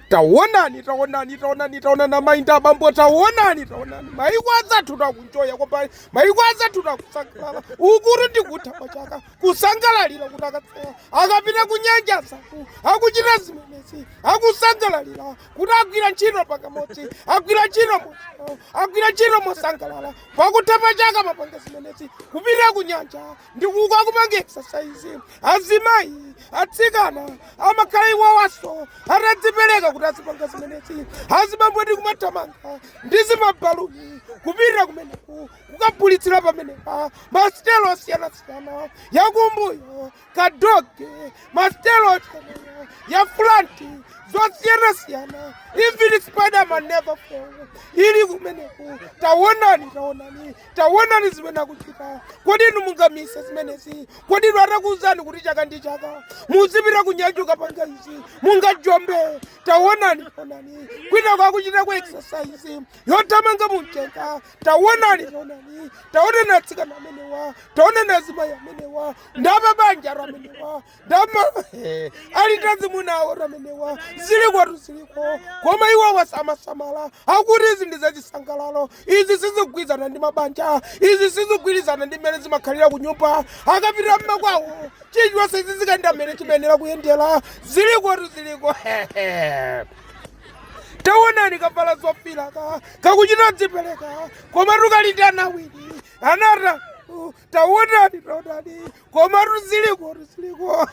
tawonani tawonani tawonani tawonani amayi ndi abambo tawonani tawonani mayiko anzathutu akunjoya kwambiri mayiko anzathutu akusangalala ukutu ndi kutha kwa chaka kusangalalira kuti akatseka akapita kunyanja anzathu akuchita zimenezi akusangalalira kuti agwira ntchito pamodzi agwira ntchito mosangalala agwira ntchito mosangalala pakutha pa chaka amapanga zimenezi kupita kunyanja Ndi kukapanga exercise, azimayi, atsikana amakhala iwowonso atadzipereka kuti azipanga zimenezi, azibambo ndi kumathamanga ndi zimabaluni kupita kumeneku kukagulitsira pamenepo masitelo osiyanasiyana yakumbuyo ka doggy masitelo osiyana ya fulanti zosiyanasiyana even spiderman never fall ili kumeneku tawonani tawonani taonani zimene akuchita kodi inu mungamise zimenezi kodi inu atakuuzani kuti chaka ndi chaka muzipita kunyanja kukapanga izi mungajombe taonani onani kwinako akuchitako exercise yothamanga mumchenga taonani taonani taonani atsikana amenewa taonani azimayi amenewa ndi apabanjatu amenewa dama eh, alitu ndi azimuna awo amenewa zilikotu ziliko koma iwo sakusamala akuti izi ndi zachisangalalo izi sizigwirizana ndi mabanja izi sizigwirizana ndi mmene zimakhalira ku nyumba akapita mmakwawo chilichonse chizikayenda mmene chimayenera kuyendera zilikotu ziliko taonani kavala zofiraka kakuchita kudzipereka komatu kali ndi ana awili atatu taonani taonani komatu zilikotu ziliko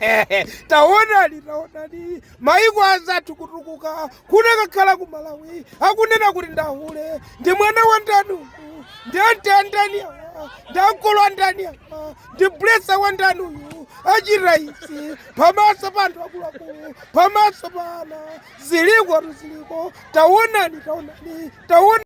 taonani taonani maiko anzathu kutukuka kunakakhala ku Malawi akunena kuti ndi ahule ndi mwana wa ndani uyu ndi anti andani awa ndi ankolo andani awa ndi blesser wa ndani uyu achita izi pamaso pa anthu akuluakulu pamaso pa ana zilikotu ziliko taonani taonani taonani